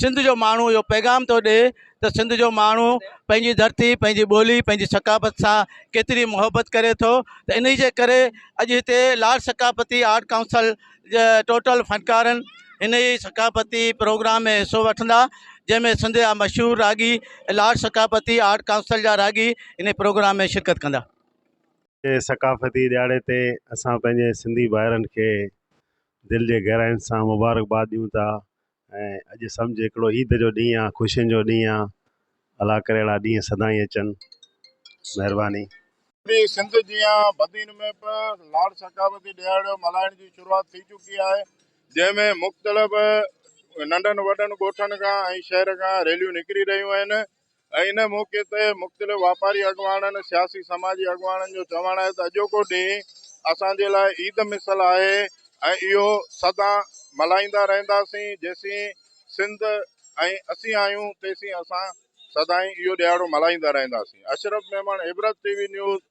سنڌ جو ماڻهو اهو پيغام ٿو ڏي ته سنڌ جو ماڻهو پنهنجي ڌرتي پنهنجي ٻولي پنهنجي ثقافت سان ڪيتري محبت ڪري ٿو ته انهي جي ڪري اڄ هتي لاڙ ثقافتي آرٽ ڪائونسل جا ٽوٽل فنڪارن انهي ثقافتي پروگرام ۾ حصو وٺندا جنهن ۾ سنڌ جا مشهور راڳي لاڙ ثقافتي آرٽ ڪائونسل جا راڳي انهي پروگرام ۾ شرڪت ڪندا. هتي ثقافتي ڏهاڙي تي اسان پنهنجي سنڌي ڀائرن کي دل جي گهراين سان مبارڪباد ڏيون ٿا ۽ اڄ سمجهه هڪڙو عيد جو ڏينهن آ خوشين جو ڏينهن آ الا ڪري اهڙا ڏينهن سدائين اچن مهرباني. پوري سنڌ جيان بدين ۾ به لاڙ ثقافتي ڏهاڙو ملهائڻ جي شروعات ٿي چڪي آهي جنهن ۾ مختلف ننڍن وڏن ڳوٺن کان ۽ شهر کان ريليون نڪري رهيون آهن. ان موقعي تي مختلف واپاري اڳواڻن، سياسي سماجي اڳواڻن جو چوڻ آهي ته اڄوڪو ڏينهن اسان جي لاء عيد مثل آهي ۽ اهو سدان ملهائيندا رهنداسين، جيسين سنڌ ۽ اسين آهيون تيسين اسان سدائين اهو ڏهاڙو ملهائيندا رهنداسين. اشرف ميمڻ، عبرت ٽي وي نيوز،